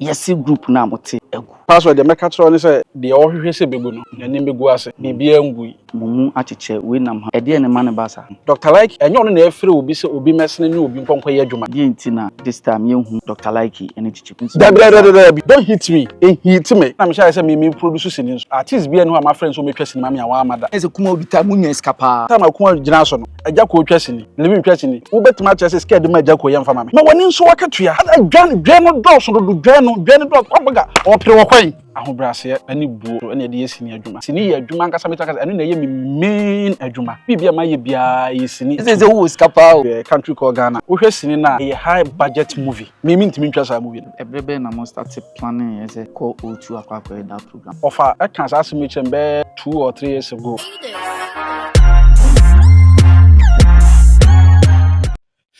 Yɛse group no a mote agu. Pastor deɛ mɛka akyerɛ wo ne sɛ deɛ ɔhwehwɛ sɛ ɛbɛgu no n'anim bɛgu ase, biribiara ngui. Mo mu akyekyɛ wei nam ha. Ɛdeɛn na ɛma no ba saa? Doctor Lykke, ɛnyɛ ɔno na ɛrefrɛ obi sɛ obi mmɛsene ne obi nkɔ nkɔyɛ adwuma. Deɛn nti na this time yɛnhu Doctor Lykke ne Gyigyi? Dabi dabi dabi dabi don't hit me, ɛhiiti me na mehyɛ aseɛ sɛ me me produce sini nso. Artist biara nni hɔ a mafrɛ no sɛ ɔmmɛtwa sini ma me a wamma da. Ayɛ sɛ Kumah obi time wo nyaa sika paa. Time a Kumah gyinaa so no Agyako twa sini, Living twa sini. Wobɛtumi akyerɛ sɛ sika a yɛde ma Agyako yɛ mfa ma me. Ma w'ani nsɔ w'akatua. Dwa dwa no dɔɔso dodo dwa no dwa no dɔɔso kwabaga ɔpere wɔ kwan. Ahobrɛaseɛ ne buo so na yɛde yɛ sini adwuma. Sini yɛ adwuma ankasa mɛtumi aka sɛ ɛno na ɛyɛ me main adwuma. Biribiara a mayɛ biara ɛyɛ sini. Ɛsɛ sɛ wowɔ sika paa o. Country called Ghana wohwɛ sini no a ɛyɛ high budget movie me mentumi ntwa saa movie no. Ɛberɛ bɛn na mo starte planning yɛ sɛ kɔ O2 akɔ akɔyɛ da pro. Ɔfa ɛka saa asɛm yi kyerɛ me bɛyɛ two or three years ago.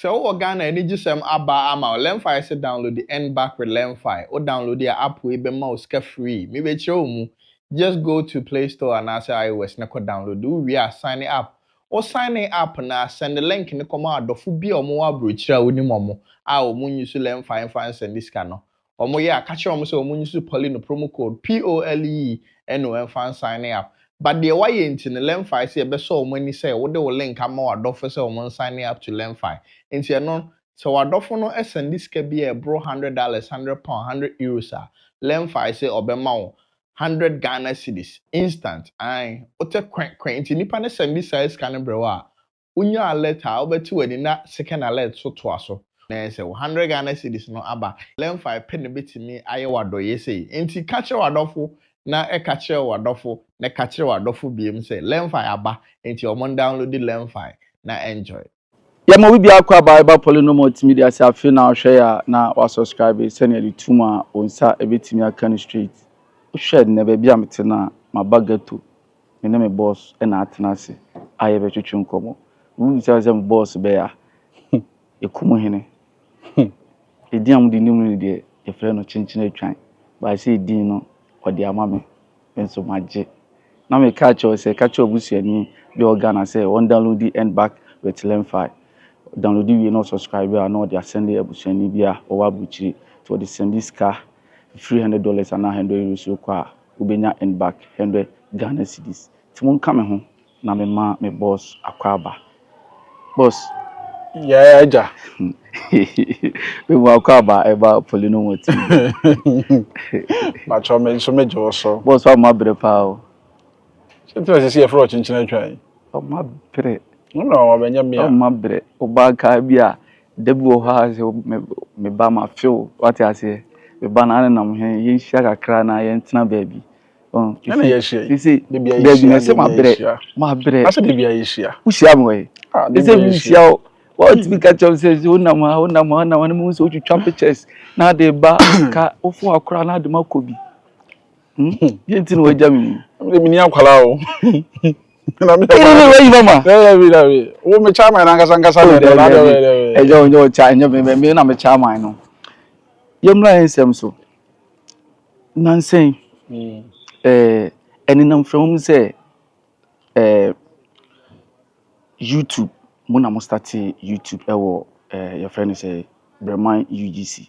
Sɛ wowɔ Ghana a anigyesɛm aba ama wo. Learnfy se download the earn back with Learnfy. Wo download a app wei bɛma wo sika free. Mebekyerɛ wo mu. Just go to play store anaasɛ IOS na kɔ download. Wo wie a sign up. Wo sign in up no a, send link no kɔma w'adɔfo bi a wɔwɔ aburokyire a wonim wɔn a wɔn nyi so Learnfy mfa nsɛnde sika no. wɔn yɛ a ka kyerɛ wɔn sɛ wɔn use poly no promo code POLE no mfa nsign up but deɛ wayɛ nti no Lemfi sɛ yɛbɛsɔ wɔn ani sɛ wode wo link ama w'adɔfo sɛ wɔn nsign up to Lemfi nti ɛno sɛ w'adɔfo no sɛnde sika bi a ɛboro hundred dollars, hundred pound, hundred euros a Lemfi sɛ ɔbɛma wo hundred Ghana cedis instant ae wotɛ kwɛ kwɛ nti nipa no sɛnde saa sika no brɛ wo a Wonya alert a wobɛte w'ani na second alert so toa so na ɛyɛ sɛ wo hundred Ghana cedis no aba. Lemfi pɛ na ebetumi ayɛ wo adɔeyɛ sei. Enti ka kyerɛ w'adɔfo na ɛka kyerɛ w'adɔfo na ɛka kyerɛ w'adɔfo biom sɛ Lemfi aba enti ɔmo ndownloadi Lemfi na enjoy. Yɛma obi biara kɔ a Bible Poly no ma ɔtumi de ase afei na ɔhwɛ yɛ a na wasubscribe sɛnea ɛde to mu a wo nsa bɛtumi aka no straight. Wohwɛ nnɛ baabi a mete no a, maba ghetto. me ne me bɔs na atena ase a yɛbɛtwetwe nkɔmmɔ. Wubisa me sɛ me bɔs bɛyɛ a, hmm, Ekum Hene. Hmm, edin a mode nim no deɛ, yɛfrɛ no Kyenkyen Atwan. But sɛ edin no, ɔde ama me, me nso magye. Na mekaa kyerɛ wo sɛ, ka kyerɛ w'abusuani bi a ɔwɔ Ghana sɛ ɔndownloadi Earn Back with LearnFi. Ɔdownloadi wie na ɔsubscribe a, na ɔde asɛnde abusuani bi a ɔwɔ aburokyire. Nti ɔde sɛnde sika, three hundred dollars anaa hundred euros kɔ a, wobenya en back hundred Ghana cedis nti monka me ho na me ma me boss Akwaaba boss Yaya agya Me mu Akwaaba ɛba Polino mo ti Pakyɛw me nso me gye wo so. Boss wa ma brɛ paa o. Sɛ nti na sisi yɛfrɛ wo kyenkyen atwa yi. Wa ma brɛ. Wo na wa bɛnyɛ mea. Wa ma brɛ. Ɔbaa kaa bi a. Da bi wɔ hɔ a sɛ me me ba mafe wo, wate aseɛ, me ba na nenam he, yɛnhyia kakra anaa yɛntena baabi. Ɔho, Dɛn na yɛahyia yi? sese Da bi a baabi yɛhyia, na ɛsɛ da bi a mabrɛ, yɛhyia. mabrɛ. Asɛ da bi a yɛhyia. Wohyia me wɔ he? Ah, da bi Ɛsɛ a yɛhyia. menhyia wo. Woatumi ka kyerɛ me sɛ sɛ wonam ha, wonam ha, wonam ha, na mehu sɛ wotwitwa pictures na wode ba ka wofo akora na wode makɔ bi. Hmm? Deɛ nti na woagya me yi? Ɛmi de menni akwadaa o. na mi yɛ maa yi mama ɛyɛ mi na mi wo mi kya maa nankasa nkasa na ɛdɛ na ɛdɛ ɛdɛ ɛyɛ o nyɛ o kya ɛnyɛ mi mi na mi kya maa no yɛ mura yɛ nsɛm so nansɛn ɛɛ ɛnenam fɛn mu sɛ ɛɛ youtube mo na mo start youtube ɛwɔ ɛɛ yɛ fɛn ne sɛ brɛman ugc.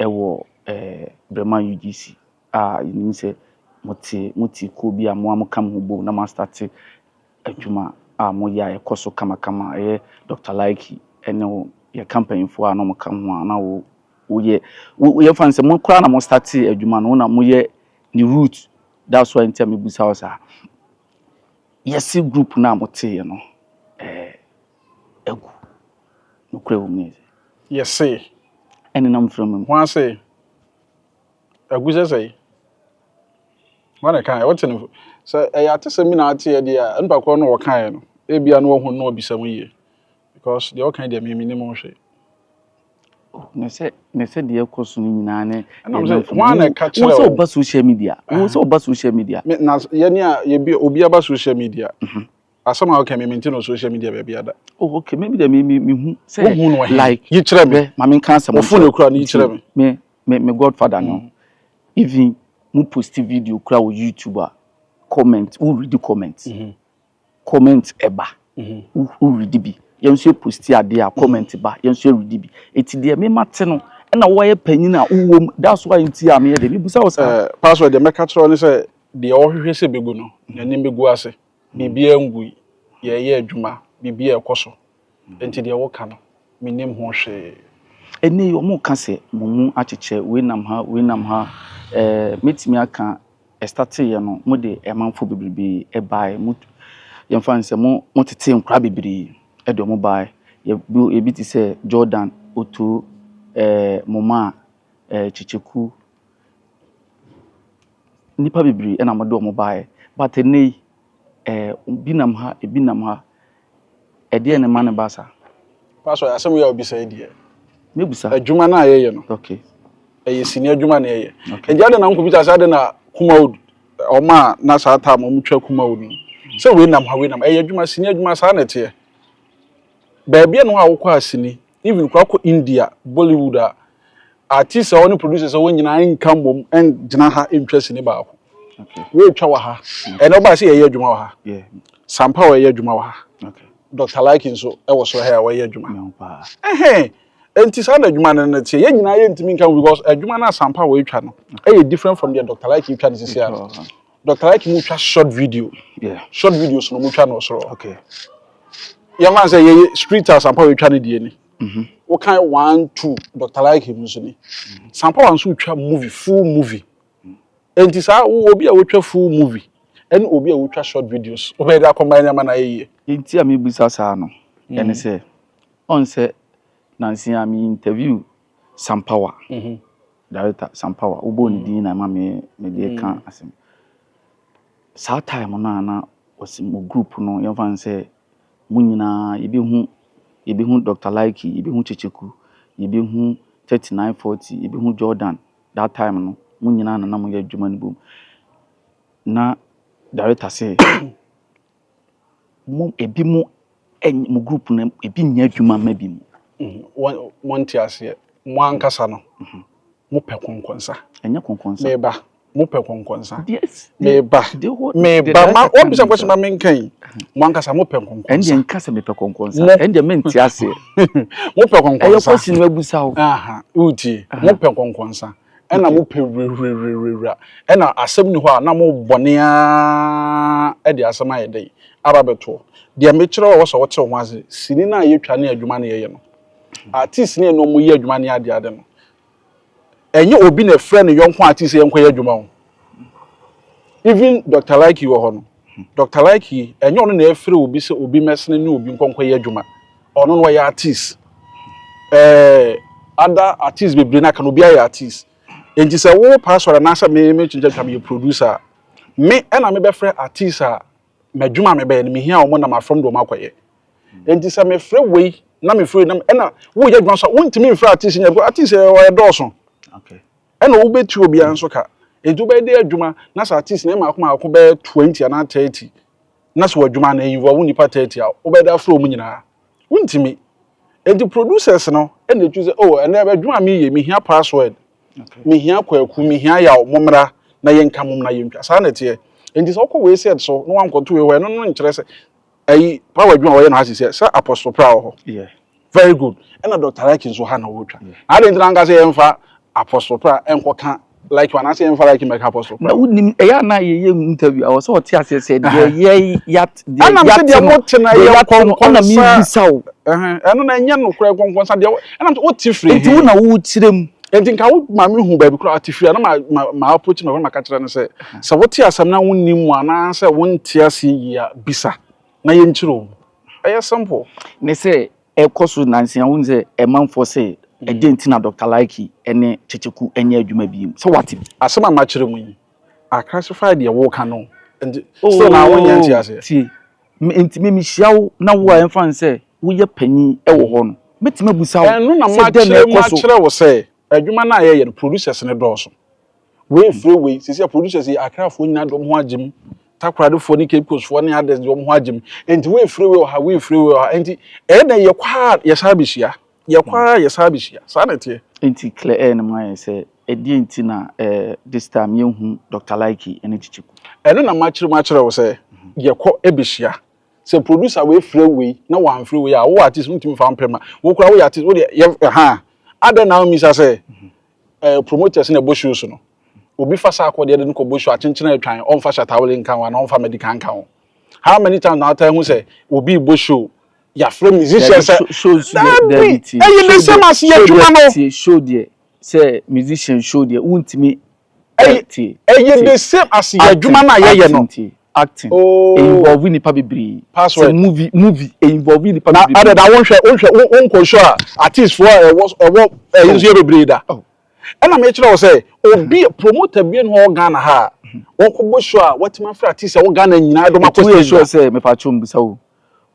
Ɛwɔ Brema UGC a yɛnim sɛ mote mo te kuo bi a mo ara mo ka mo ho bom na mo astate adwuma a mo yɛ a ɛkɔ so kamakama a ɛyɛ Doctor Laiki ɛne wo yɛ ka mpanyinfoɔ a na ɔmo ka ho a na wo wo yɛ wo yɛ fa no sɛ mo koraa na mo statee adwuma no wo na mo yɛ ne root that's why nti a me busa wo saa yɛse group no a mo teeɛ no ɛɛ agu. Nokorɛ wɔ mu ne sɛ. Yɛse. Ɛnenam mframa mu. Hwan se. Agu sɛ sɛi? Hwan na ɛkaeɛ? Wote no? Sɛ ɛyɛ atesɛm bi na ateɛ deɛ a, nipa korɔ no a ɔkaeɛ no, ebia na wahu no na wabisa mu yie. Because deɛ ɔkae deɛ me menim ho hwee. ne sɛ ne sɛ deɛ ɛkɔ so no nyinaa ne ɛnam sɛ wɔn na ɛka kyerɛ wo sɛ ɔba social media wo sɛ ɔba social media na yɛne a yɛbi obi aba social media Asɛm a woka mi mente no social media baabi ada. Oh okay, maybe dɛ me me mehu sɛ. Wohu no he? Like. Yi kyerɛ me. Ma me nka asɛm. Wofo no ekura no yi kyerɛ me. Me me me godfather no. Mm. Even mo post video kura wɔ YouTube a comment wo read comment. Mm -hmm. Comment ɛba. Mm -hmm. Wo read bi. Yɛn nso yɛ post adeɛ a comment mm -hmm. ba. Yɛn nso yɛ read bi. Eti deɛ me ma te no ɛna wɔyɛ panyin a wowɔ mu that's why nti a meyɛ de mebusa wo sɛ. Eh, password deɛ mɛka kyerɛ ne sɛ deɛ ɔhwehwɛ sɛ bɛgu no n'anim bɛgu ase. Biribiara ngui. Yɛreyɛ adwuma. Biribiara rekɔ so. Enti deɛ woka no, mennim ho hwee. Ɛnnɛ yi, wɔreka sɛ mo mu akyekyɛ, wei nam ha, wei nam ha. Eh, mɛtumi aka, ɛstateeɛ no, mode amanfoɔ bebrebe baeɛ. Mo, yɛmfa no sɛ mo, motetee nkwadaa bebree de wɔn baeɛ. Yɛ, bi, ebi te sɛ Jordan, Otoo, eh, Momaa, eh, Kyekyeku. Nnipa bebree na wɔde wɔn baeɛ, but ɛnnɛ yi, eh, ebi nam ha, ebi nam ha. Ɛdeɛn na ɛma no ba saa? Pastor, asɛm yi a wobisa yi deɛ, Mɛbusa. adwuma no a yɛyɛ no, Okay, ɛyɛ sini adwuma na yɛyɛ. okay. Nti adɛn na wonkɔbisa sɛ adɛn na Kumawood, wɔn a na saa time no wɔtwa Kumawood no, sɛ wei nam ha, wei nam ha. Ɛyɛ adwuma, sini adwuma, saa na ɛteɛ. Baabi a na wokɔ a sini even koraa kɔ India Bollywood a, artists a wɔne producers a wɔn nyinaa nka mmom ngyina ha ntwa sini baako. Okay. Wɔretwa wɔ ha. Ɛnna ɔbaa sɛ yɛyɛ adwuma wɔ ha. Yeah. Sampa wɔyɛ adwuma wɔ ha. Okay. Dr. Like nso ɛwɔ soro ha a wɔyɛ adwuma. No paa. Ɛhɛn. Nti saa na adwuma no no teɛ. Yɛn nyinaa yɛntumi nka ho because adwuma no a Sampa wɔretwa no ɛyɛ different from deɛ Dr. Like retwa no sisi ano. Dɔkta Ike mu twa short video. Yeah. Short videos no mu twa no soro. Okay. Yɛn fan sɛ yɛyɛ street house ampa wɔatwa ne deɛ ni. Mhm. Wokan one two Dɔkta Ike mu nso ni. Mhm. Sampa wɔn nso twa movie full movie. Mhm. Enti saa wo obi a wotwa full movie ɛne obi a wotwa short videos wobɛyɛ de akɔmba ɛne ama na ayɛ yie. Nti a mebisa saa no ɛne sɛ ɔn sɛ nansi a me interview Sampawa, director Sampawa, wobɔɔ ne din na ɛma me mede reka asɛm. Saa time no a na ɔse mo group no yɛmfa no sɛ mo nyinaa yɛbɛhu yɛbɛhu Dr. Lykke, yɛbɛhu Kyekyeku, yɛbɛhu 3940, yɛbɛhu Jordan. That time no mo nyinaa na na moyɛ adwuma no bom. Na director se mo ebinom ɛn mo group no ebi nyɛ adwuma mma bi mu. Wɔn wɔn te aseɛ mo ankasa no mo pɛ kɔnkɔnsa. Ɛnyɛ kɔnkɔnsa. Meba mo pɛ kɔnkɔnsa. Yes. Meba meba ma wɔn bisa kwasi ma mi nka yi mo ankasa mo pɛ kɔnkɔnsa. Ɛn deɛ nka sɛ mi pɛ kɔnkɔnsa ɛn deɛ mi n te aseɛ. Mo pɛ kɔnkɔnsa. Ɛyɛ kwasi na ebusa o. Aha o tie mo pɛ kɔnkɔnsa. ɛna mo pɛ wirewirewirewira ɛna asɛm ni hɔ a na mo bɔne ara de asɛm ayɛ dɛn aba bɛtoɔ deɛ mekyerɛ wɔ sɛ wɔte ho ase sini no a yɛtwa ne adwuma no yɛyɛ no artist ne ɛne ɔmo yɛ adwuma ne adeade no ɛnyɛ obi na ɛfrɛ ne yɔnko artist yɛnkɔ yɛ adwuma ho even dr likey wɔ hɔ no dr likey ɛnyɛ ɔno na ɛfrɛ obi sɛ obi mɛsene ne obi nkɔnkɔ yɛ adwuma ɔno no ɔyɛ artist ɛɛ ada artist bebree n'aka no obi ayɛ artist nti sɛ wo pastor anaasɛ me me kyenkyen twa meyɛ producer a me ɛna mebɛfrɛ artist a m'adwuma a mebɛyɛ no mehia wɔn na mafam de wɔn akɔyɛ nti sɛ mefrɛ wei na mefrɛ wei na ɛna woyɛ adwuma so a wontumi mfrɛ artist nyɛ artist ɛɛ ɔyɛ dɔɔso. Okay. Ɛna wobetua obiara nso ka. Enti wobɛyɛ dɛ adwuma na sɛ at least ne mmaako mmaako bɛyɛ twenty anaa thirty na sɛ w'adwuma no involve nnipa thirty a, wobɛyɛ dɛ afrɛ wɔn nyinaa? Wontumi. Enti producers no na ɛtu sɛ oh ɛnnɛ adwuma a mereyɛ yi mehia password, mehia Kwaku, mehia Yaw, mommra na yɛnka, mommra yɛntwa. Saa na ɛteɛ. Enti sɛ wokɔ wei set so na woankɔto wei hɔ a, ɛno no nkyerɛ sɛ Ayi pa wɔ adwuma a wɔyɛ no ha sisɛ sɛ apostle pra wɔ hɔ. Yeah. Very good. Ɛna Dr. Raki nso ha na wɔtwa. Yeah. Na adɛn ntina nka sɛ yɛmfa apostle pra nkɔka like one ase yɛmfa like mɛka apostle pra. Na wonim ɛyɛ ana yɛyɛ interview a wɔsɛ wɔte aseɛ sɛ deɛ yɛ yat deɛ yat no. Ɛnam sɛ deɛ mo te na yɛ nkɔnkɔnsa. Ɛna mi bisa o. Ɛno na ɛnyɛ no kura nkɔnkɔnsa deɛ ɛnam sɛ wote firi. Nti wo na wo kyerɛ mu. Nti nka wo maame hu baabi kura ɔte firi a na ma ma ma approach ma wɔn ma ka kyerɛ no sɛ. Sɛ wote asɛm na wonnim mu anaasɛ wonte aseɛ yie a, bisa na yɛnkyerɛ wo mu. Ɛyɛ simple. Ne sɛ ɛkɔ so nansa yi a, wohu sɛ ɛmanfoɔ se ɛdeɛn nti na Doctor Laiki ne Kyekyeku nyɛ adwuma bio? Sɛ woate bi. Asɛm a makyerɛ mu yi, I classify deɛ woka no nti still na wonyɛ nte aseɛ. Ooh, tie. Me, nti me mehyia wo na wo a yɛmfa no sɛ woyɛ panin wɔ hɔ no, mɛtumi abusa wo sɛ dɛn na ɛkɔ so? Ɛno na makyerɛ, makyerɛ wo sɛ. Adwuma no a yɛyɛ no producers no dɔɔso. Wei efrɛ wei, sɛsi a producers yi Accra foɔ nyinaa de wɔn ho agye mu, Takoradi foɔ ne Cape Coast foɔ ne others de wɔn ho agye mu. Nti wei efrɛ wei wɔ ha, wei efrɛ wei wɔ ha. Nti ɛyɛ dɛn yɛkɔ ha a yɛsan bɛhyia, yɛkɔ ha a yɛsan bɛhyia. Saa na ɛteɛ. Nti Claire Earn ma yɛn sɛ ɛdeɛn nti na eh, this time yɛnhu Doctor Likey ne Kyekyeku? Ɛno na makyere mu akyerɛ wo sɛ yɛkɔ bɛhyia. Sɛ producer wei frɛ wei na wamfrɛ wei a wo artist wontumi mfa wo mpɛ ma. Wo koraa woyɛ artist wodeɛ yɛ ɛhaa. Adɛn na wommisa sɛ ɛɛ promoters na ɛbɔ shows no? Obi fa saa kɔ deɛ de no kɔbɔ show akyenkyene atwan ɔmfa Shatta Wale nka ho anaa ɔmfa Medika nka ho. How many times na wotaa hu sɛ obi rebɔ show yɛafrɛ musician sɛ Dabi show nso deɛ Dabi tie ɛyɛ the same as yɛ adwuma no. Show deɛ sɛ musician show deɛ wontumi Ɛy Acting, ɛyɛ the acting, same as yɛ adwuma acting, no a yɛyɛ acting, no. nti, acting. Oh. Ɛinvolve nnipa bebree. Sɛ Password. movie, movie, ɛinvolve nnipa Na bebree. adɛn na wonhwɛ wonhwɛ wo wonkɔ show a artist foɔ a ɛwɔ ɛwɔ ɛyi Oh. nso yɛ bebree da. Oh. Ɛna mekyerɛ wo sɛ obi promoter bi na ɔwɔ Ghana ha a ɔkɔbɔ show a watumi afrɛ artist a ɛwɔ Ghana nyinaa de wɔn akɔ Metumi stage da. ensure sɛ mepatwo mbisa wo.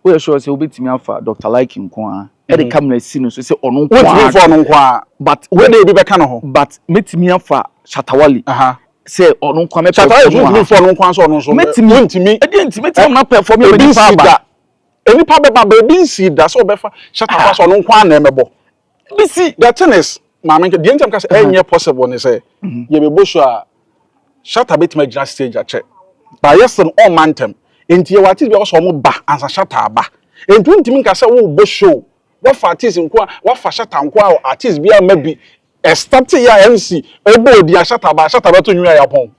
Woyɛ sure sɛ wobɛtumi afa Doctor Like nko ara de camera asi no so sɛ ɔno nko ara? Wontumi mfa ɔno nko ara. But wei deɛ obi bɛka no ho. But mɛtumi afa Shatta Wale sɛ ɔno nko ara mɛ perform wɔ ha. Shatta Wale nso wontumi mfa ɔno nko ara sɛ ɔno nso. Mɛtumi. Wontumi. Ɛdeɛ nti mɛtumi ama no a perform ama nipa aba. Ebi nsii da. Nnipa bɛba but ebi nsii da sɛ wɔbɛfa Shatta Wale sɛ ɔno nko ara na ɛmɛbɔ. You see, the thing is, maame nka deɛ nti a meka sɛ Uh-huh. ɛnyɛ possible ne sɛ Mhm. yɛbɛbɔ show a Shatta bɛtumi agyina stage akyɛ but yɛ sɛ no ɔmma ntɛm nti yɛwɔ artist bi a wɔsɛ ɔmo ba ansa Shatta aba nti wontumi nka sɛ wobɔ show wafa artist nko a wafa Shatta nko a artist bi ama bi ɛstate yɛ a MC ɛbɔ odi a Shatta ba Shatta bɛto nwin a yɛapɔn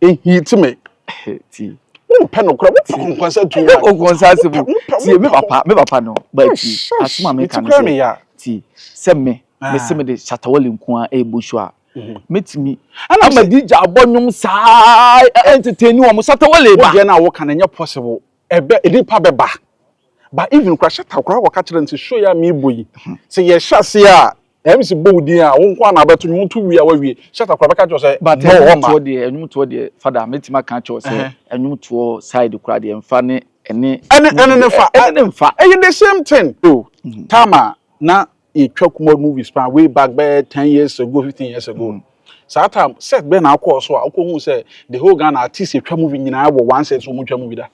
ehi ti me. ti. wọn pɛ no kura wọn pɛ kɔnkɔnsa tu wa. kɔnkɔnsa ase mu tie mi papa mi papa no ba ti aso maame ka no sɛ ti sɛ mi mi se mi de shatawale nkoa ebo so a mɛtumi ama di gya abɔ nnwom saa ɛntetɛni wɔn shatawale ba. wọ́n deɛ na wọ́ka na ɛnyɛ possible. Ɛbɛ nnipa bɛba but even koraa shut up koraa wɔka kyerɛ no sɛ show yi a merebɔ yi sɛ yɛhyɛ aseɛ a MC bɔ wo din a wo nko ara na abɛto nwom woto wie a woawie shut up koraa bɛka kyerɛ wo sɛ But no ɛnwom ɔmma. toɔ deɛ ɛnwom toɔ deɛ Father mɛtumi aka akyerɛ wo sɛ Ɛhɛn. ɛnwom toɔ side koraa deɛ mfa ne ɛne Ɛne ɛne ne fa ɛne ne mfa. ɛyɛ the same thing. So time a na yɛtwa kumɔd movies paa way back bɛyɛ ten years ago fifteen years ago no saa time set bɛn na akɔɔ so a wokɔhu sɛ the whole ghana artist yɛtwa movie nyinaa wɔ one set so wɔtwa movie da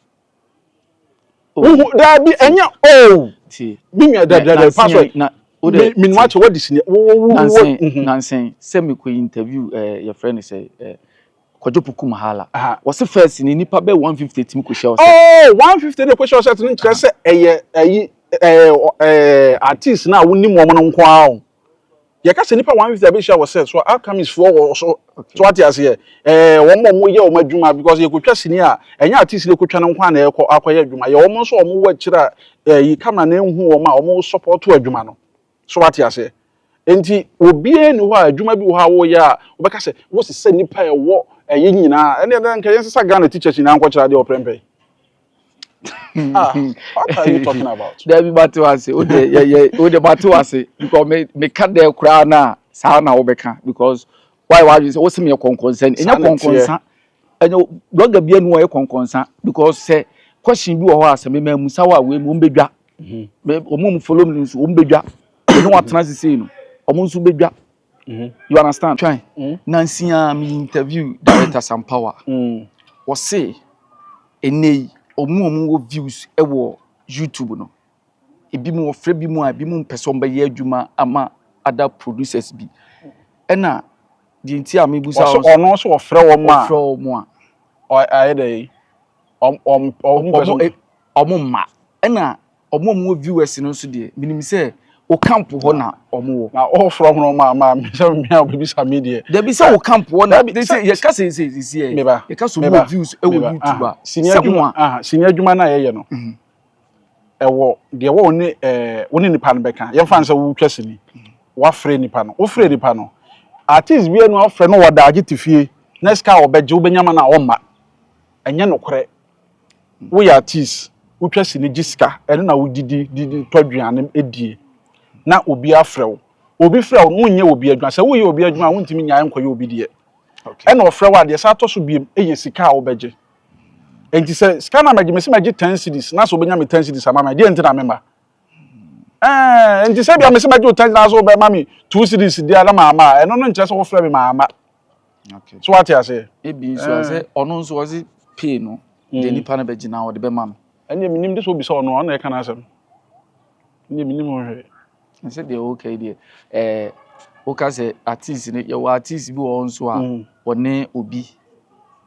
Oh, wohu daa bi ti ɛnyɛ oh ti me nua na na dabidabi password nsen na wo dɛ me menua ti kyɛ wadi sini wo wo wo wo nansen mhm nansen sɛ mekɔ interview ɛɛ yɛfrɛ no sɛ ɛɛ Kwadwo Poku Mahala. Wɔse first no nnipa bɛyɛ one fifty tumi kɔhyia Ɔsɛt. Oh! One fifty na ɛkɔhyia Ɔsɛt no nkyerɛ sɛ ɛyɛ ayi ɛɛ ɛɛ artiste no a wonim wɔn no nko ara o. Yɛka sɛ nnipa one fifty abɛhyia Ɔsɛt so a, Alchemist foɔ wɔ so. So wate aseɛ? Ɛɛ wɔn a wɔyɛ wɔn adwuma because yɛkɔtwa sini a, ɛnyɛ artiste no ɛkɔtwa no nko ara na ɛkɔ akɔyɛ adwuma. Yɛ wɔn nso a wɔwɔ akyire a ɛyi camera no nhu wɔn a wɔsɔpɔto adwuma no. So wate aseɛ? Enti obiara nni hɔ a adwuma bi wɔ hɔ a woyɛ a wobɛka sɛ wosesa nnipa a ɛwɔ ɛyi nyinaa. Ɛnneɛ dɛn nka yɛnsesa Ghana teachers nyinaa nkɔkyerɛ adeɛ wɔ prɛmpɛ yi? Ah, what are you talking about? Dabi mate wo ase. Wo deɛ, yɛ, yɛ, wo deɛ mate wo ase. Because me, meka dɛ koraa no a, saa na wobɛka. Because wayɛ w'adwene sɛ wosɛ meyɛ kɔnkɔnsa ni ɛnyɛ kɔnkɔnsa ɛnyɛ blɔga bi anu ɔyɛ kɔnkɔnsa because sɛ question bi wɔ hɔ a sɛ mema mu sa wɔ a wei mu wɔn bɛdwa wɔn mu follow me nso wɔn bɛdwa ɛne wɔn atena sisi no wɔn nso bɛdwa you understand twɛn mm. nansi a mi interview director sampawa mm. wɔse ɛnɛ yi wɔn a wɔn wɔ views ɛwɔ youtube no. ebi mu wɔfrɛ bi mu a ebi mu mpɛ sɛ wɔn bɛyɛ adwuma ama other producers bi ɛna deɛ nti a mi busa wɔn ɔno nso wɔfrɛ wɔn a wɔfrɛ wɔn a ayɛ dɛ yi wɔn wɔn wɔn mpɛ sɛ wɔn mma ɛna wɔn a wɔn viewers no nso deɛ minim sɛ o camp hɔ na wɔn wɔ na ɔfrɛ wɔn ma ma mi sɛ mi a obi bisa mi deɛ dɛbi sɛ o camp hɔ na de sɛ yɛ ka sɛ sɛ sɛ yɛ yɛ ka sɛ wɔn wɔ views ɛwɔ youtube a sɛ wɔn a sini adwuma na yɛ yɛ no. ɛwɔ deɛ wɔ ne ɛɛ wo ne nipa no bɛka yɛmfa no sɛ wotwa sini wafrɛ nipa no wofrɛ nipa no artist bi no afrɛ no wɔda agye te fie na sika a wɔbɛgye wobɛnya ma no a ɔmma ɛnyɛ nokorɛ woyɛ artist wotwa sini gye sika ɛno na wodidi didi tɔ aduane die na obi afrɛ wo obi frɛ wo no wonyɛ obi adwuma sɛ woyɛ obi adwuma a wontumi nyae nkɔyɛ obi deɛ ɛna ɔfrɛ wo a deɛ saa atɔ so biem yɛ sika a wobɛgye nti sɛ sika na mɛgye mesi mɛgye ten cities na sɛ obenya me ten cities ama me deɛ nti na mema ɛɛ nti sɛ bia mesi mɛgye o ten na sɛ obɛma me two cities deɛ na maa ma ɛno no nkyerɛ sɛ wofrɛ me maa ma so wate aseɛ. ebi nso a sɛ ɔno nso ɔsi pay no deɛ nipa no bɛgye na ɔde bɛma no. ɛnna mi nim de sɛ obi sɛ ɔno ɔno na ɛka n'asɛm. Me deɛ menim ho hwee. Sɛ deɛ woka yi deɛ ɛɛ woka sɛ artist no yɛwɔ artist bi wɔ hɔ nso a mm. ɔne obi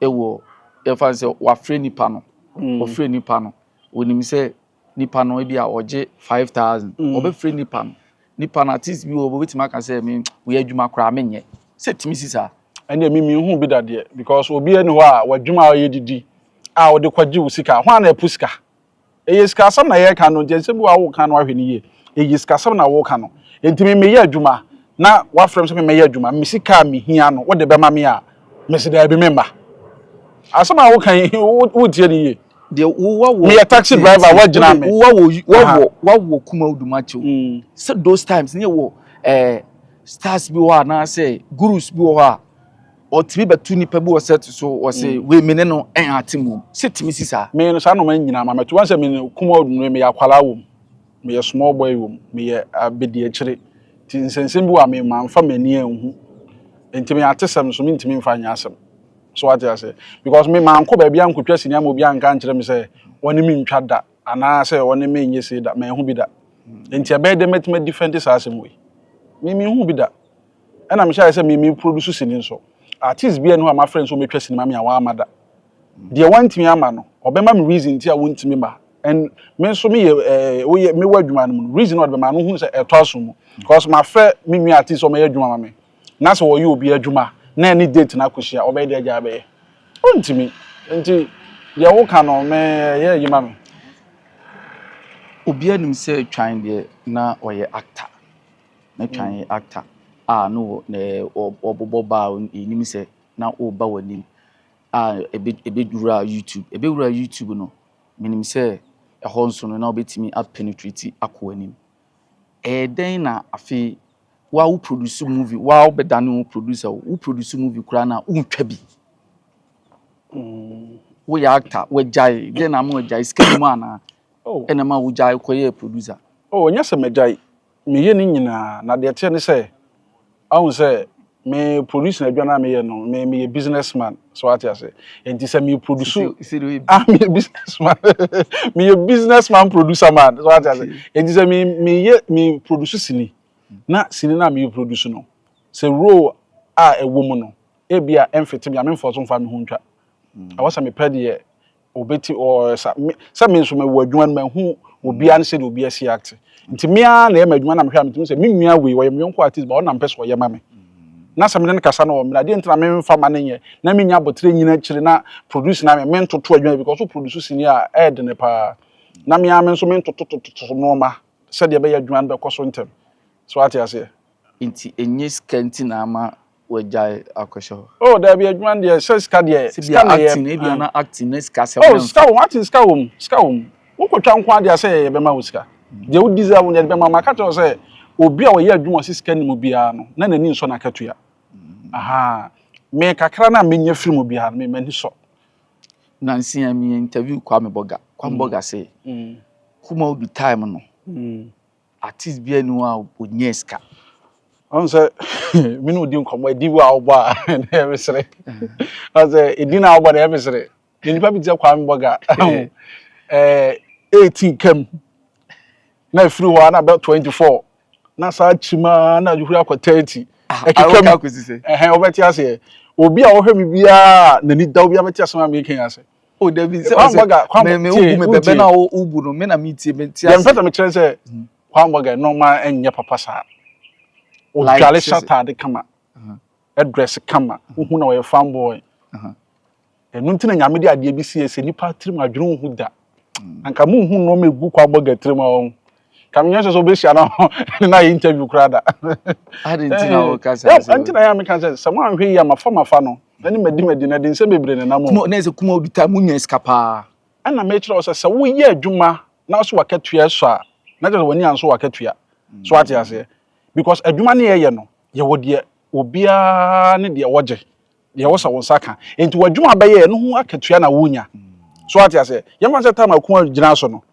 ɛwɔ yɛfa sɛ wafrɛ nipa no mm. ɔfrɛ nipa no onim sɛ nipa no ebi a ɔgye five thousand mm. ɔbɛfrɛ nipa no nipa no artist bi wɔ hɔ obetumi aka sɛ me woyɛ adwuma koraa menyɛ sɛ tumi si saa. ɛnna mi mi hu bi dadeɛ because obi ɛni hɔ a wadwuma a ɔyɛ didi a ɔde kɔgye wo sika hɔn a na ɛpo sika. Ɛyɛ sikasɛm na yɛreka no nti ɛnsɛ bi wɔ a woka no ahwɛ no yie. Ɛyɛ sikasɛm na woka no nti me meyɛ adwuma na wafrɛ me sɛ memmɛyɛ adwuma me sika a mehia no wode bɛma me a mese daabi memma. Asɛm a woka yi wotie no yie. Deɛ wowa wɔ meyɛ taxi driver woagyina me. Wowa wɔ wɔwɔ wɔwɔ Kumau Dumakyɛw. Sɛ those times ne wɔ ɛɛ stars bi wɔ hɔ anaasɛ gurus bi wɔ hɔ a. ɔtumi bɛtu nipa bi wɔ set so wɔse mm. wei mene no ɛn ate mu sɛ tumi si saa me no saa noma nyinaa ma mɛto wansɛ me kuma ɔdunu meyɛ akwalaa wɔ mu meyɛ small boy wɔ mu meyɛ abɛdi akyire nti nsɛnsɛm bi wɔ a mema mfa m'ani anhu nti me ate sɛm so mentumi mfa nyɛ asɛm so wate ase because me mankɔ baabi ankɔtwa sini ama obi anka nkyerɛ me sɛ ɔne me ntwa da anaasɛ ɔne me nyɛ sei da manhu bi da mm. nti ɛbɛyɛ dɛ mɛtumi adifɛnte saa asɛm wei me menhu bi da Ɛna mehyɛ ayɛ sɛ me me produce sini nso. Artist biaa nni hɔ a mafrɛ no sɛ ɔmɛtwa sini ma me a wamma da. Deɛ wantumi amma no, ɔbɛma me reason nti a wontumi ma. And me nso me yɛ eh woyɛ mewɔ adwuma no mu no, reason a ɔde bɛma no wohunu sɛ ɛtɔ asom mu. Cause mafrɛ me nua artist sɛ ɔmɛyɛ adwuma ma me, na sɛ ɔyɛ obi adwuma na ɛne date no akɔhyia a, ɔbɛyɛ deɛ agyaa bɛyɛ? Ɔntumi. Nti deɛ woka no me ɛyɛ ayi ma me. Obiaa nim sɛ Twan deɛ na ɔyɛ actor. Ne twa yɛ actor a no wɔ ne wɔ wɔbobɔ ba a yɛnim sɛ na woba w'anim a ɛbɛ ɛbɛwura YouTube ɛbɛwura YouTube no menim sɛ ɛhɔ nso no na wobɛtumi a penetrate akɔ w'anim ɛyɛ dɛn na afei wo a wo produce movie wo a wobɛdane wo producer o wo produce movie koraa na wontwa bi woyɛ actor wagyae dɛn na ama wagyae sika nim anaa ɛna ma wogyae kɔyɛɛ producer oh nyɛ sɛ magyae Meyɛ ne nyinaa, na deɛ ɛteɛ ne sɛ, wahu sɛ me produce na adwuma no a meyɛ no, me meyɛ business man, so ate ase. Nti sɛ me produce, ah meyɛ business man, meyɛ business man producer man, so ate ase. Nti sɛ me meyɛ me produce sini, na sini no a me produce no, sɛ role a ɛwɔ mu no, ebi a ɛmfete me a, memfa so mfa me ho ntwa. Ɛwɔ sɛ mepɛ deɛ Obeti ɔ sa me sɛ me nso mewɔ adwuma no mahu obiara ne sɛdeɛ obiara si acte nti me ara na ɛyɛ m'adwuma na mehwɛ a metumi sɛ me nua wei ɔyɛ me yɔnko artist but ɔno na mepɛ sɛ ɔyɛ ma me na sɛ me ne no kasa na ɔmmene a deɛ nti na memfa ma no nyɛ na mennya aboterɛ nnyina akyire na produce no ayɛ me mentoto adwuma because wo produce sini a ɛyɛ dene paa na me ara me nso mentotototo nnoɔma sɛdeɛ ɛbɛyɛ adwuma no bɛkɔ so ntɛm so wate aseɛ. Nti ɛnyɛ sika nti na ama wagyae akɔhyɛ hɔ. Oh dabi adwuma no deɛ sɛ sika deɛ sika na yɛ acting ebi ana acting ne sika sɛ oh sika wɔm acting sika wɔm sika wɔm wokɔtwa nko adeɛ sɛ yɛyɛ bɛma wo sika deɛ wo deserve no yɛde bɛma ma ka kyerɛ sɛ obi a ɔyɛ adwuma ɔsi sika nim biara no na n'ani nsɔ n'akatua mm. aha me kakra na menya firi mu biara no m'ani sɔ nansi a me interview kwa me boga kwa me mm. boga se mm. kuma obi time no mm. Artist biara nni hɔ a ɔnyaa sika. Ɔhu sɛ me ne wo di nkɔmmɔ, ɛdi wo a wobɔ a na ɛyɛ me sere. Ɔhu sɛ ɛdi no a wobɔ na ɛyɛ me sere. Yɛ nipa bi te sɛ Kwame Bɔga. Eighteen kam na ɛfiri hɔ a na bɛ twenty four na saa kyim ara na ɛhuri akɔ thirty. Ɛkeka mu. Wobɛte aseɛ. Obi a ɔhwɛ me biara a n'ani da wo biara bɛte asɛm a meka yi ase. o dabi sɛ ɔsɛ mɛ mɛ ubu mɛ bɛbɛ na o ubu no mɛ na mi tie mɛ tie ase. yɛn fɛtɛ mi kyerɛ sɛ kwambɔ gɛ nɔɔma ɛnyɛ papa saa odwale hyɛ ataade kama ɛdrɛs kama ohun na ɔyɛ fanboy ɛnu nti na nyame de adeɛ bi si yɛ sɛ nipa tirim adwene ohun da anka mo ohun nɔɔma egu kwambɔ gɛ tirim a ɔn Kame nyɛ sɛ sɛ obehyia no ne na yɛ interview koraa da. Adi nti na wo kasa sɛ. Ɛɛ, nti na yɛ meka sɛ sɛ mo anhwɛ yi a mafa mafa no, na ne madi madi na de nsɛm bebree na nam o. Kuma na sɛ kuma obi ta mo nya sika paa. Ɛna mekyerɛ wo sɛ sɛ wo yɛ adwuma na wo so wakatua ɛsɔ a, na kyerɛ sɛ w'ani anso wakatua. So ate aseɛ? Because adwuma ne yɛ yɛ no, yɛ wɔ deɛ obiara ne deɛ ɔgye, deɛ wo sɛ wo nsa ka. Nti w'adwuma bɛyɛ no ho akatua na wo nya. So ate aseɛ? Yɛ mfa no sɛ time a Kuma gyina so no,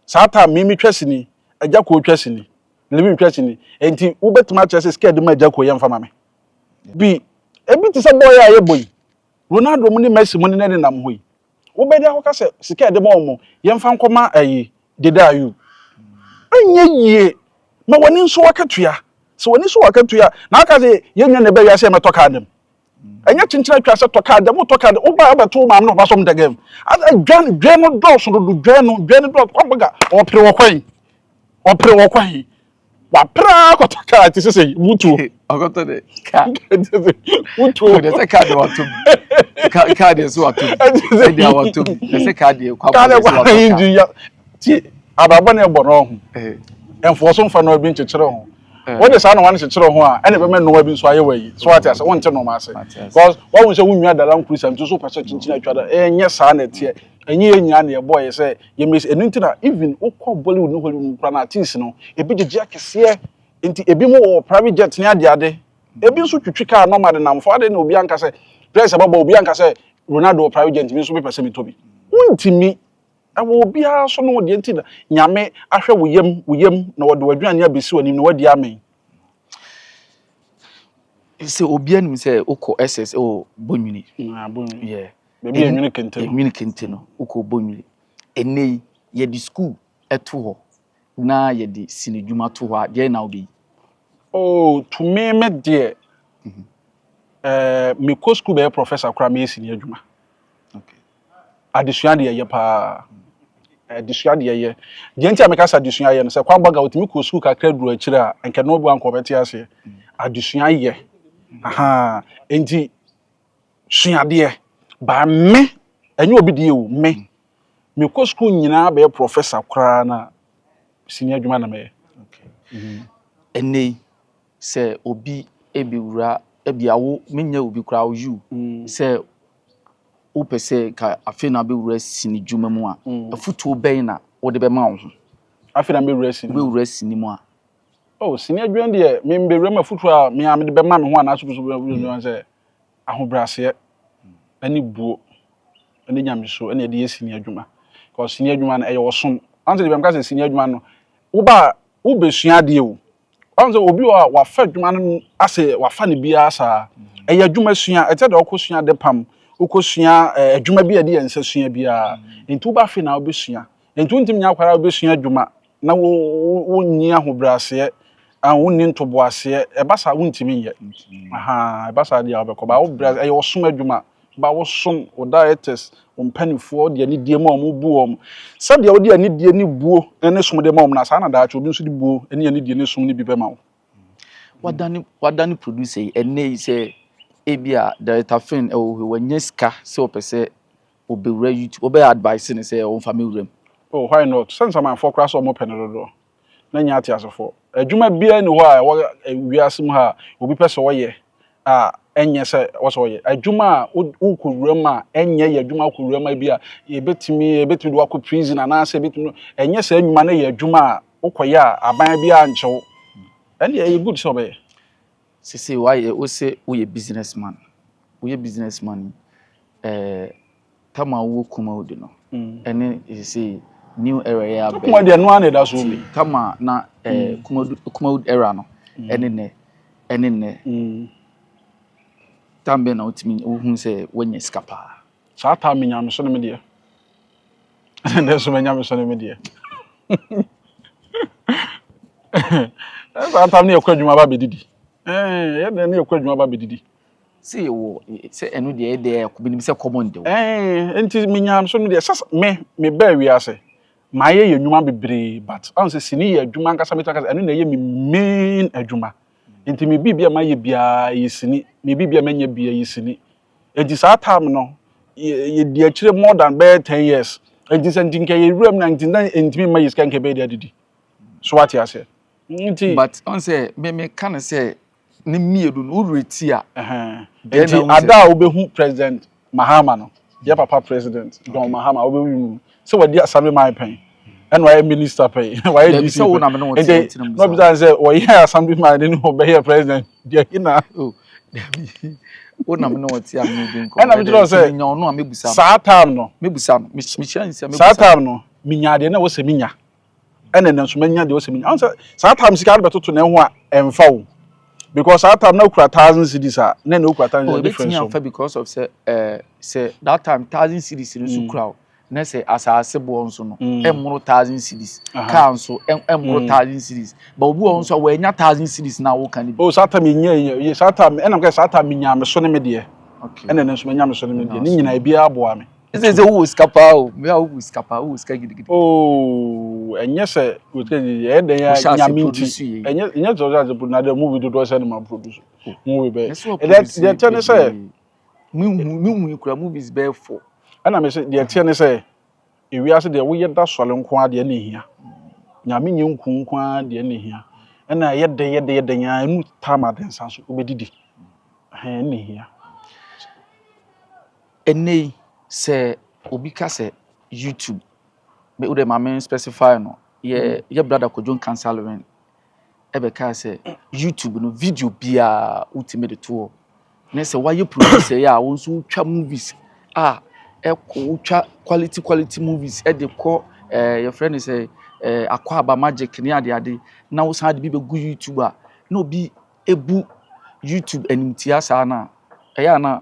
Saa time Mimi twa sini, Agya Koo twa sini, Livim twa sini. Enti wobɛtumi akyerɛ sɛ sika a yɛde ma Agya Koo yɛmfa ma me? Bi, Ebi te sɛ bɔɔl a yɛbɔ yi, Ronaldo mu ne Messi mu ne nea ɛdenam hɔ yi. Wobɛde akɔka sɛ sika a yɛde ma wɔn, yɛmfa nkɔma ayi, Dede Ayew. Ɛnyɛ yie. Ma w'ani nso akatua. Sɛ w'ani so akatua a, na woaka sɛ yɛn nua na ɛbaa wiase a yɛmmɛtɔ kaa da mu. ɛnyɛ kyenkyena atwa sɛ tɔka dɛm tɔka dɛm woba abɛto wo maame no papa som dɛgɛm adwan dwan no dɔɔso dodo dwan no dwan no dɔɔso wabaga ɔpere wɔ kwan ɔpere wɔ kwan wapere ara kɔtɔ kaa te sese wutuo ɔkɔtɔ de kaa wutuo ɔde sɛ kaa de wato mu kaa kaa de so wato mu ɛde a wato mu ɛsɛ kaa de kwa kaa de kwa yi di ya ti abrabɔ na ɛbɔ no ho ɛnfoɔ so nfa na ɔbi nkyekyere ho wɔde saa nnoɔma no kyekyere ho a ɛna ɛbɛma nnoɔma bi nso ayɛ wɔ yi so wate ase wonte nnoɔma ase because wahu sɛ wonwia dada nkuru sɛ nti so pɛ sɛ kyinkyin atwa da ɛnyɛ saa na ɛteɛ ɛnyɛ yɛ nyinaa na yɛbɔ yɛ sɛ yɛmɛsi ɛno nti na even wokɔ Bollywood ne Hollywood mu kora no artist no ebi gyegye akɛseɛ nti ebi mu wɔ private jet ne ade ade ebi nso twitwi kaa nɔma de nam fo ade na obi anka sɛ dress ɛbɛbɔ obi anka sɛ Ronaldo wɔ private jet mi nso mepɛ sɛ metɔ bi wontumi Ɛwɔ obiara so no deɛ nti na Nyame ahwɛ wo yam, wo yam na ɔde w'aduane abɛsi w'anim na w'adi amee. Sɛ obiara nim sɛ wokɔ SS wɔ Bonwini. Na Bonwini. Yeah. Baabi yɛ Nwini Kente no. Nwini Kente no, wokɔ Bonwini. Ɛnnɛ yi, yɛde sukuu to hɔ na yɛde sinidwuma to hɔ a, deɛ na wobɛyi? Oh, to me me deɛ, mhm. eh, mekɔ sukuu bɛyɛ professor koraa meyɛ sini adwuma. Okay. adesua deɛ yɛ paa adesua deɛ yɛ deɛ nti a meka sɛ adesua yɛ no sɛ kwan baga otumi kɔ sukuu kakra duru akyire a nka no bu anka ɔbɛte aseɛ adesua yɛ ahaa nti suadeɛ baa me ɛnyɛ obi deɛ o me mekɔ sukuu nyinaa bɛyɛ professor koraa na sini adwuma na mɛyɛ. Okay. Ɛnɛ yi sɛ obi bɛwura ebi a wo menyɛ obi koraa wo you sɛ wopɛ sɛ ka afei na bɛwura sini dwuma mu a afutuo bɛn na wode bɛma wo ho afei na bɛwura sini bɛwura sini mu a oh sini adwuma deɛ me bɛwura mu afutuo a me a mede bɛma me ho anaasɛ pɛ sɛ wobɛwura mu adwuma sɛ ahobrɛaseɛ ɛne buo ɛne nyamesuo ɛne ɛde yɛ sini adwuma because sini adwuma no ɛyɛ ɔsom ansa deɛ bɛmka sɛ sini adwuma no woba wobɛsua adeɛ o Ɔn sɛ obi wɔ hɔ a wafa adwuma no no ase wafa no biara saa. Ɛyɛ adwuma sua. Ɛte sɛ deɛ wokɔsua ade pam, wokɔsua eh, adwuma bi a ɛde yɛn nsa sua biara. Nti woba afei na wobɛsua. Nti wontumi nyɛ akwaa ara a wobɛsua adwuma na wo, wo, wonni ahobrɛaseɛ, ah, wonni ntoboaseɛ. Ɛba saa a, wontumi nyɛ. Ahaa, ɛba saa deɛ a wobɛkɔ. Baa wobrɛ, ɛyɛ ɔsom adwuma. ba wo som, wo dieters, wo mpaninfoɔ de anidie ma wɔn bu wɔn. Sɛdeɛ wode anidie ne buo ne som de ma wɔn no, saa na daakye obi nso de buo ne anidie ne som no bi bɛma wo. Wadane, wadane producer yi ɛnnɛ yi sɛ ebi a Director Finn ɛwɔ hɔ, wanya sika sɛ ɔpɛ sɛ ɔbɛwura YouTube, wobɛ advise no sɛ ɔmfa mmɛwura mu? Oh, why not? Sɛ nsamanfoɔ koraa sɛ wɔpɛ no dodoɔ. na nyɛ ateasefo. Adwuma biara nni hɔ a ɛwɔ wiase mu ha a obi pɛ sɛ ɔyɛ a ɛnyɛ sɛ ɔsɛ ɔyɛ. Adwuma a wokɔ wura mu a ɛnyɛ yɛ adwuma wokɔ wura mu a ebi a ebetumi ebetumi de wakɔ prison anaasɛ ebetumi ɛnyɛ saa nnwuma no yɛ adwuma a wokɔyɛ a aban biara nkyɛ wo. Ɛnde ɛyɛ good sɛ ɔbɛyɛ. Sese woayɛ wose woyɛ business man. Woyɛ business man yi, ɛɛ Tam a ɔwɔ Kumawu de no ne seesei New Era yi abɛn. Takuma deɛ ɛno ara na ɛda so bi. Tam a na ɛɛ Kumawu Era no ɛne nnɛ ɛne nnɛ. Tam bɛn na wotumi wohunu sɛ wanya sika paa? Saa tam mi nyameso ne me deɛ. Ɛna nnɛ nso m'anyameso ne me deɛ. Saa tam ne yɛkɔ adwuma ba bɛdidi. Ɛɛ yɛn deɛ ne yɛkɔ adwuma ba bɛdidi. Sɛ yɛwɔ sɛ ɛno deɛ ɛyɛ deɛ ɛkɔ binom sɛ common de o. Ɛɛ nti menyam so no deɛ sɛ me me bɛɛ wiase mayɛ yɛ nnwuma bebree but ɔn sɛ sini yɛ adwuma ankasa mɛtumi aka sɛ ɛno na ɛyɛ me main adwuma nti me biribi a mayɛ biara ɛyɛ sini me biribi a mɛnyɛ biara ɛyɛ sini nti saa time no yɛ yɛdi akyire more than bɛyɛ ten years nti sɛ nti nka yɛ wura mu na nti na ntumi mma yɛ sika nka ɛbɛyɛ de adidi so wate aseɛ nti. But ɔn sɛ me me ka no sɛ. Ne mmienu no, wo werɛ ti a. Ɛhɛn. Nti ada a wobɛhu President Mahama no, yɛ papa President John Mahama, wobɛhu no sɛ wadi Assembly man pɛn, ɛna wayɛ Minister pɛn, wayɛ DC pɛn. Dabi, sɛ wo na me ne wo te a, nti na mebisa. Nti, mebisa no sɛ, ɔyɛɛ Assembly man ne ne ɔbɛyɛɛ President, deɛn na. Oh, dabi, wo na me ne wo te a, me ne wo di nkɔmmɔ. Ɛna mekyerɛ wo sɛ. Nti menya ɔno a, mɛbisa no. Saa time no. Mɛbisa no, mehyira nsi a, mɛbisa no. Saa time no, menyaa deɛ na ɛwɔ sɛ menya. ɛna nanso manya deɛ ɔsɛ menya ɔn sɛ saa time sika de bɛtoto na ɛho a ɛnfa o because saa time na okura thousand cities a na na okura thousand cities difference o. ɛbɛtumi because of sɛ ɛɛ sɛ that time thousand cities no nso mm. kura o na sɛ asaase boɔ nso no mm. ɛmoro thousand cities car nso ɛmoro mm. thousand cities ba obi wɔ nso a wɔanya thousand cities na wɔka ne bi. o oh, saa time yɛ nyɛ saa time ɛnam kɛ saa time nya me so ne me deɛ ɛna ne nso menya me so ne me deɛ ne nyinaa ebi aboa me. He says sɛ wowɔ sika paa o mea wowɔ sika paa wowɔ sika gidigidi. Oh, ɛnyɛ sɛ wosika gidigidi ɛyɛ dɛn a nyame nti ɛnyɛ ɛnyɛ sɛ ɔsɛ ase na dɛ movie dodoɔ sɛ ne ma produce movie bɛyɛ deɛ ɛteɛ ne sɛ mehu yi kura movies bɛyɛ fɔ ɛna me sɛ deɛ ɛteɛ ne sɛ ewiase deɛ woyɛ da sɔre nko ara deɛ na ehia nyame nyɛ nku nko ara deɛ na ehia ɛna ɛyɛ dɛ yɛ dɛ yɛ dɛ nyɛ ɛnu tam adensa so wobɛdidi ɛhɛn na ehia Ɛnnɛ yi, sɛ obi ka sɛ YouTube, me wo dɛ ma me specify no, yɛ yɛ brada Kojo Nkansah-Lewin ɛbɛkaa sɛ YouTube no video biara wotumi de to hɔ, ne sɛ wayɛ producer yi a wo nso wotwa movies a ɛkɔ wotwa quality quality movies ɛde kɔ ɛɛ eh, yɛfrɛ no sɛ ɛɛ eh, akɔ aba magic ne ade ade na wosan de bi bɛgu YouTube a na obi ebu YouTube animtia saa na ɛyɛ a na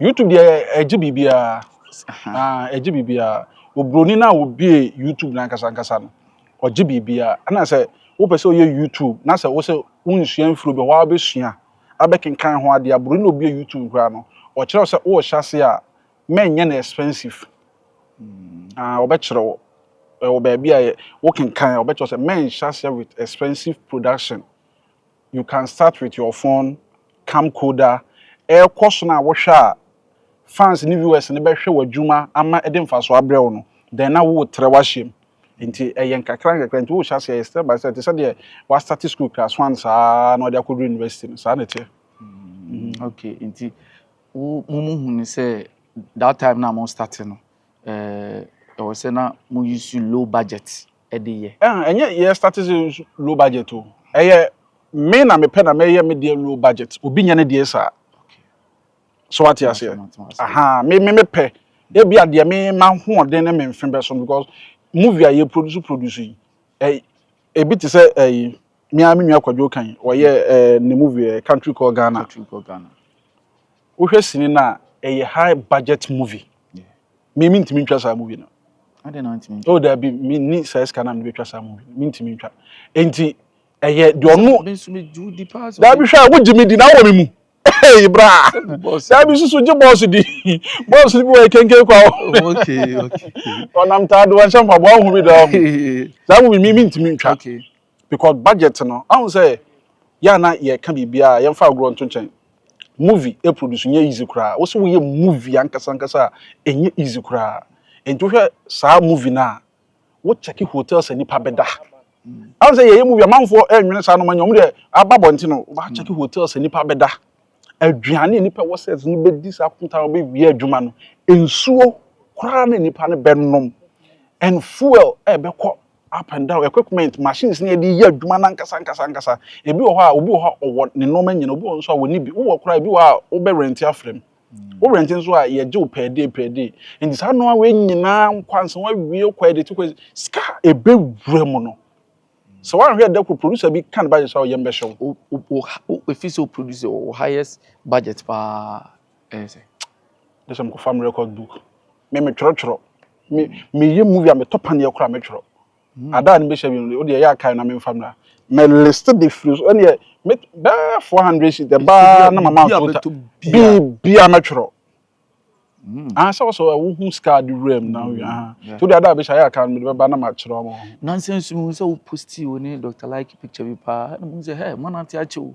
YouTube deɛ ɛgye biribiara ah ɛgye biribiara oburoni no a obie YouTube n'ankasa ankasa no ɔgye biribiara ɛna sɛ wopɛ sɛ ɔyɛ YouTube na sɛ wosɛ wonsua mfiri bi hɔ a wobɛsua abɛkenkan ho adeɛ aburoni na obie YouTube koraa no ɔkyerɛ sɛ worehyɛ ase a mɛnyɛ no expensive ah ɔbɛkyerɛ wo ɛwɔ baabi a wokenkan a ɔbɛkyerɛ sɛ mɛnhyɛ ase with expensive production. You can start with your phone, camcorder, ɛrekɔ so no a wohwɛ a fans ne viewers no bɛhwɛ w'adwuma ama ɛde mfaso abrɛ wo no, then na woretrɛ w'ahyɛ mu. Nti ɛyɛ nkakra nkakra, nti worehyɛ aseɛ ɛyɛ step by step, te sɛ deɛ w'astarte school class one saa na wode akɔduru university no, saa na ɛteɛ. Mm, okay, nti wo mo mo hu ne sɛ that time na mo starte no, ɛɛ, ɛwɔ sɛ na mo use low budget. de yɛ. Ɛha ɛnyɛ yɛ starte sɛ low budget o, ɛyɛ me na mepɛ na mɛyɛ me deɛ low budget, obi nyɛ ne deɛ saa. So wate aseɛ? Aha, me me mepɛ, ebi a deɛ me m'ahoɔden ne me mfe bɛso no because movie a yɛ produce produce yi, ɛ ebi te sɛ ɛyi, me ara me nua Kwadwo kan, ɔyɛ ɛɛ ne movie ɛ Country Called Ghana. Wohwɛ sini no a, ɛyɛ high budget movie. Me mintumi ntwa saa movie no. Adɛn na wontumi ntwa? Oh, daabi, menni saa sika no a mede bɛtwa saa movie no. Mintumi ntwa. Enti, ɛyɛ deɛ ɔno... Me nso megye wo di paa sɛ... Daabi hwɛ a, wogye me di na wowɔ me mu. Hey, bra! Daabi susu gye bɔɔso di. Bɔɔso no bi wɔ ɛkenken kwa o. Ɔnam taa do, wanhyɛ mpaboa, wohu bi da hɔ. Saa movie me mintumi ntwa. because budget no ahu sɛ yɛ a na yɛka biribiara a yɛmfa agorɔ nto nkyɛn movie e produce nyɛ easy koraa wo sɛ woyɛ movie ankasa ankasa a ɛnyɛ easy koraa nti wohwɛ saa movie no a wo check hotels a nipa bɛda ahu sɛ yɛyɛ movie amanfoɔ ɛnwene saa no ma nyɛ ɔmo deɛ aba bɔnten no wa check hotels a nipa bɛda aduane a nipa wɔ sɛ no bɛdi saa kɔmputa a wɔbɛwie adwuma no nsuo koraa na nipa no bɛnom and fuel ɛbɛkɔ up and down equipment machines na yɛde yɛ adwuma no ankasa ankasa ankasa ebi wɔ hɔ a obi wɔ hɔ a ɔwɔ ne nneɛma nyina obi wɔ nso a wɔne bi wowɔ koraa ebi wɔ a wobɛ rent afrɛ mu wo rent nso a yɛgye wo pɛɛ dee pɛɛ dee nti saa nneɛma wei nyinaa nkwansa wawie wokɔ ɛde ti kɔ sika a ebɛwura mu no sɛ woanhwɛ ɛdɛ koro producer bi ka ne budget a ɔyɛ mbɛhyɛ wo o o o efi sɛ o producer wɔ highest budget paa. Ɛyɛ sɛ. Gye sɛ mekɔfa me record book. Me metwerɛtwerɛ. Me meyɛ movie a metɔ paneɛ koraa metwerɛ. Hmm. Ada a ne bɛhyɛ bi no wode ɛyɛ akae na memfa mmra. Me list de firi so ɛneɛ me bɛɛ 400 sheet ɛbaa na mama atota. Biribi a mɛtwerɛ. Hmm. Ah sɛ wɔsɛ wohu sika de wura mu na woyɛ hmm. aha. Nti wode ada a bɛhyɛ ɛyɛ akae no mede bɛba na makyerɛ ɔmo. Nansa nso mehu sɛ wo posti wo ne Dr. Like picture bi paa na mehu sɛ hɛ manante akyɛ o.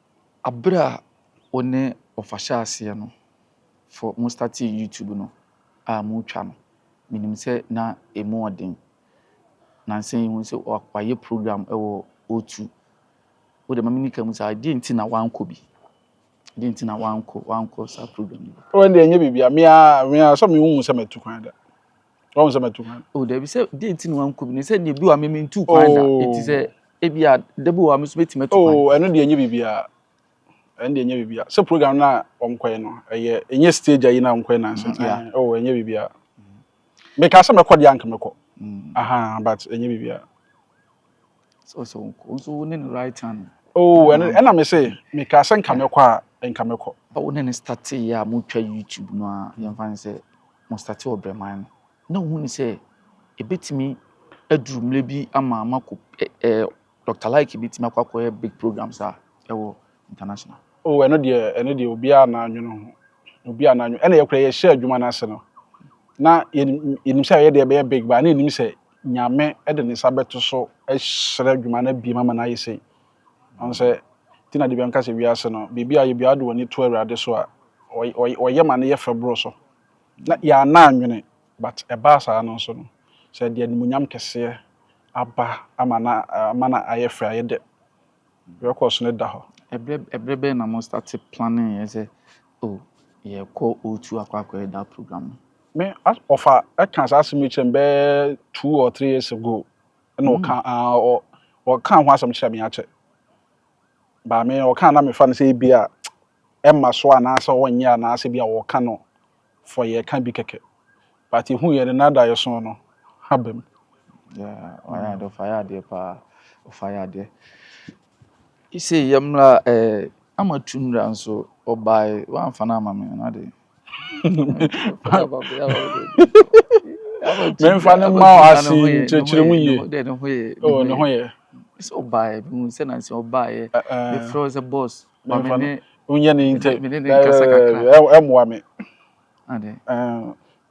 Aber a wo ne wɔfa hyɛɛ aseɛ no, for mo startee YouTube no a mo twa no, menim sɛ na ɛmu ɔden. Nansa yi hu sɛ wayɛ program wɔ O2. Wo deɛ ma meni ka mu saa, deɛ nti na wankɔ bi? Deɛ nti na wankɔ, wankɔ saa program no bi? Wo deɛ nyɛ biribiara, me ara, me ara, sɛ me wo hu sɛ matu kwan da. Wɔn sɛ mɛtu kwan. O dabi sɛ deɛ nti na wankɔ bi no sɛ deɛ bi wa mɛmɛ ntu kwan da. Oh. Eti sɛ ebi a dabi wa mɛ so bɛ ti mɛ tu kwan. Oh ɛno deɛ nye bibi a ɛno deɛ nye bibi a sɛ program na wɔn kɔɛ no ɛyɛ enye stage ayi na wɔn kɔɛ nansa. Mm, yeah. Eh, oh enye bibi a mɛ ka sɛ mɛkɔ deɛ anka mɛkɔ. Mm. Aha but enye bibi a. So so wo nso wo ne no right hand. Oh, and and I'm say me ka sɛ nka mɛkɔ a nka mɛkɔ. Wo ne no starte yɛ a motwa YouTube no a yɛmfa ne sɛ mo starte wɔ brɛman no na wohu ne sɛ ɛbɛtumi aduru mmerɛ bi ama makɔ ɛɛ Dr. Like bɛtumi akɔ akɔyɛ big programs a ɛwɔ international. Oh, ɛno deɛ ɛno deɛ obiara na anwene ho obiara na anwene ɛna yɛkora yɛhyɛ adwuma no ase no na yɛnim sɛ yɛdeɛ ɛbɛyɛ big ba na yɛnim sɛ Nyame de ne nsa bɛto so ahyira dwuma no abiem ama no ayɛ sei. Ɔn sɛ, nti na dabi a meka sɛ wiase no, biribi a ɔyɛ biara wode w'ani to Awurade so a, ɔyɛ ma no yɛ fɛ boro so. Na yɛanna annwene, but ɛbaa saa no nso no, sɛ ɛde animuonyam kɛseɛ aba ama no a, ama no ayɛ fɛ, ayɛ dɛ. Records no da hɔ. Ɛberɛ bɛn na mo starte planning yɛ sɛ oh yɛrekɔ O2 akɔ akɔyɛ that program no? Me as ɔfa ɛka saa asɛm yi kyerɛ me bɛyɛ two or three years ago ɛna mm. ɔka ah, ɔ ɔka ho asɛm kyerɛ me akyɛ baame ɔka na mefa no sɛ ebi a ɛma so anaasɛ ɔnyɛ anaasɛ bi a ɔka no fɔ yɛ ka bi kɛkɛ but ehu yɛ no nada yɛ so no ha bɛm. ɔyɛ adeɛ ɔfa yɛ adeɛ paa ɔfa yɛ adeɛ sɛ yɛmmra ɛɛ eh, ama tu mmra nso ɔbae wamfa no ama me no ade mɛmfa no mma wo ase nkyerɛkyerɛ mu yie oh ne ho yɛ sɛ ɔbaeɛ bi mu sɛ nansi ɔbaeɛ mefrɛ wo sɛ boss ma me ne wonyɛ ne ntɛ ɛmmoa me ade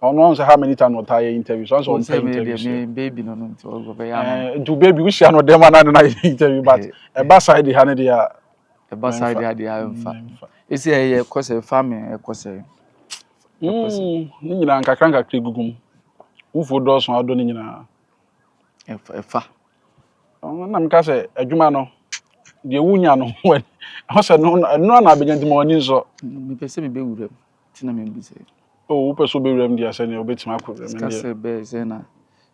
ɔno ɔn sɛ how many times ɔtaa yɛ interview so ɔn sɛ ɔmpɛ interview sɛ baby no no nti ɔbɛyɛ ama nti baby wohyia no dɛm ana ne na yɛ interview but ɛba side ha ne deɛ Ɛba saa deɛ adeɛ a ɛmfa. Ɛsi ɛyɛ ɛkɔ sɛ ɛfa me ɛkɔ sɛ. Ne nyinaa nkakra nkakra egugu mu. Wufuo dɔɔso adɔ ne nyinaa. Ɛfa. Na meka sɛ adwuma no deɛ wunya no ɛho sɛ no ɛno na abɛnya nti ma w'ani nsɔ. Mepɛ sɛ mebɛ wura mu ti na mebisa yi. O wopɛ sɛ wobɛ wura mu deɛ sɛ nea wobɛtumi akɔ wura mu deɛ. Sika sɛ bɛyɛ sɛ na.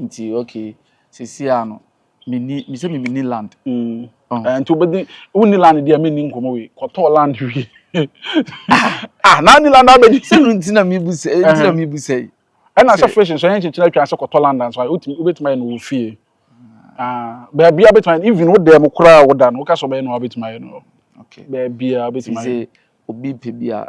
Nti okay sɛsi a no menni mesɛ me menni land. Mm. Ɛnti wobɛdi wonni land deɛ menni nkɔmɔ wei kɔtɔ land wei ah na ni land abɛdi. Sɛ no nti na mebu sɛ nti na mebu sɛ yi. Ɛna sɛ fish nso ɛnyɛ nkyekyere atwa sɛ kɔtɔ land nso ayɛ wotumi wobɛtumi ayɛ no wɔ fie. Ah baabia wobɛtumi ayɛ even wo dan mu koraa a woda no woka sɛ wobɛyɛ no a wobɛtumi ayɛ no hɔ. Okay. Baabia wobɛtumi ayɛ. Sɛ obi pɛ bi a.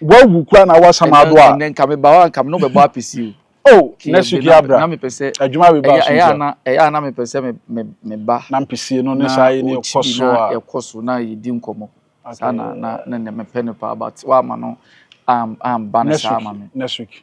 Wawu kura na awa sama ado a. Ɛnɛ nka me ba hɔ nka me no bɛbɔ apɛsi o. Oh ne suki abra. Na me pɛ sɛ. Adwuma bi ba so. Ɛyɛ ana ɛyɛ ana me pɛ sɛ me me me ba. Na mpɛsi no ne saa yi ne ɛkɔ so a. Na ɛkɔ so na yɛ di nkɔmɔ. Saa na na na me pɛ no paa but wa ama no am am ba ne saa ama me. Ne suki.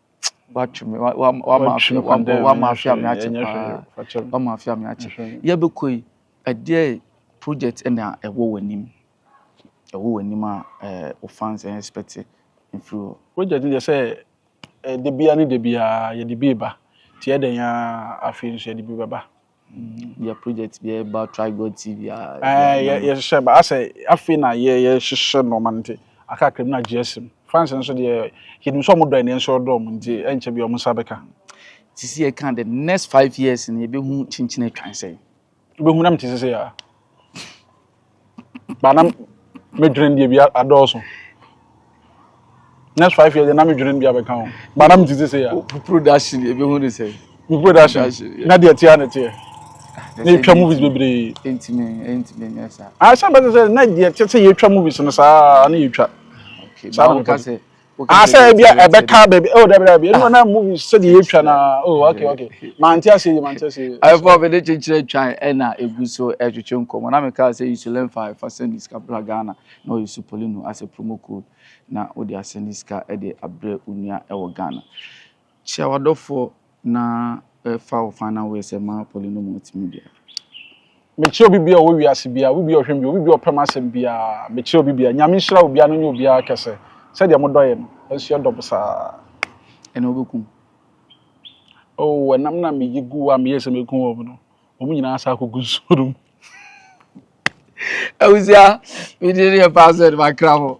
watwe me wa wa wama afe wa wama afe ame akye paa wama afe ame akye yɛbɛkɔ yi ɛdeɛ project ɛna ɛwɔ wɔ anim ɛwɔ wɔ anim a ɛɛ o fans ɛyɛ expect mfiri hɔ. project deɛ sɛ ɛɛ debia ne debia yɛde bi ba tiɛ dɛn a afei nso yɛde bi bɛba. Bia project bi a ɛba Try God TV a. Ɛɛ yɛ yɛhyehyɛ ba asɛ afei na yɛ yɛhyehyɛ nneɛma no nti akakra mu na gye asim. France nso deɛ yɛnim sɛ wɔn dɔ yɛn nso ɔdɔ wɔn nti ɛnkyɛ bi wɔn nsa bɛka. Sisi yɛ ka the next five years no yɛbɛhu kyenkyen atwan sɛn. Wobɛhu na mete sese a. ba na medwene deɛ bi adɔɔso next five years na medwene deɛ abɛka ho ba na metete sɛ ya production ɛbɛhu ne sɛ me production na deɛ tea ne teɛ na ɛtwa movies bebree ɛntimi ɛntimi nyɛ saa ahyɛ bɛte sɛ na deɛ te sɛ yɛtwa movies no saa na yɛtwa saa na meka sɛ Ah, sɛ ebi a ɛbɛka baabi. Oh, dabi dabi. Ɛnu na movie sɛ deɛ yɛtwa na. Oh, okay okay. Mante ase yi, mante ase yi. Afɔ mi de kyekyere twan ɛna egu so ɛtwetwe nkɔmɔ. Na mi ka sɛ isu lɛnfa ɛfa sɛndi sika bra Ghana na ɔyɛ su polino asɛ promo code na wode asɛndi sika ɛde abrɛ onua ɛwɔ Ghana. Kyia w'adɔfoɔ na fa wo fan na woyɛ sɛ Mao Poli no mu ɔtemi bia. Mekyia obi bia ɔwɔ wiase bia, obi bia ɔhwɛ me bia, obi bia ɔpɛ m'asɛm bia, mekyia obi bia. Nyame nhyira obia no nyɛ obiara kɛsɛ sɛdeɛ mo dɔ yɛ no, yɛnso yɛ dɔ mo saa. Ɛna wobɛkum. Oh ɛnam na meyi gu hɔ a meyɛɛ sɛ mɛku wɔn no, wɔn nyinaa san akɔgu nsuo no mu. Abusua, me deɛ ne yɛ paa sɛ de makra mo.